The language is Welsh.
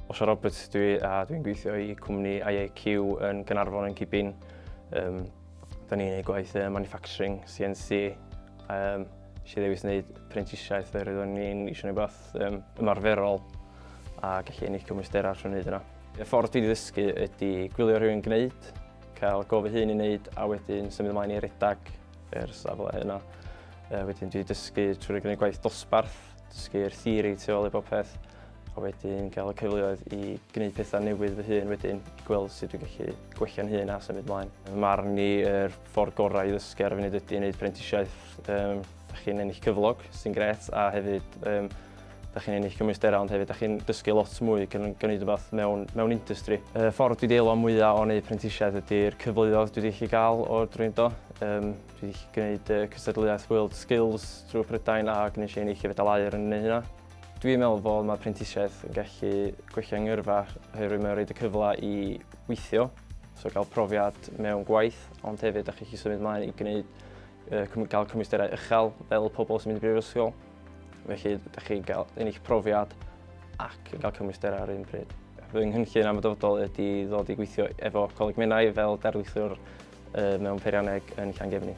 Osha Roberts dwi a dwi'n gweithio i cwmni IAQ yn Gynarfon yn Cibin. Um, da ni'n ei gwaith uh, manufacturing, CNC. Um, eisiau ddewis wneud prentisiaeth yr oeddwn ni'n eisiau gwneud beth um, ymarferol a gallu ennill cymwysder ar trwy'n wneud yna. Y ffordd dwi'n ddysgu ydy gwylio rhywun gwneud, cael gofio hyn i wneud a wedyn symud ymlaen i redag i'r safle yna. Uh, wedyn dwi wedi dysgu trwy'r gwneud gwaith dosbarth, dysgu'r theori tu ôl i bob peth, a wedyn gael y cyfleoedd i gwneud pethau newydd fy hun wedyn, i gweld sut dwi'n gallu gwella'n hun a symud mlaen. Mae marn ni, yr ffordd gorau i ddysgu ar y funud ydy wneud prentisiaeth. Um, da chi'n ennill cyflog, sy'n gret, a hefyd um, Da chi'n ennill cymwysterau ond hefyd da chi'n dysgu lot mwy ac yn gwneud rhywbeth mewn, mewn industry. Y ffordd dwi wedi eilwa'n mwyaf o wneud prentisiaeth ydy'r cyfleoedd dwi wedi gallu gael o'r drwy yndo. Um, dwi wedi gallu gwneud uh, cystadleuaeth World Skills drwy Prydain a gwneud i ennill y fedal air yn gwneud hynna. Dwi'n meddwl fod mae prentisiaeth yn gallu gweithio yng ngyrfa oherwydd mae'n rhaid y cyfle i weithio, so gael profiad mewn gwaith, ond hefyd ydych chi'n symud ymlaen i gwneud, uh, gael cymwysterau uchel fel pobl sy'n mynd i brifysgol. Felly, ydych chi'n cael un eich profiad ac yn cael cymwysterau ar un pryd. Fy nghynllun am y dyfodol ydy ddod i gweithio efo Coleg Menai fel darlithiwr mewn peirianneg yn Llangefni.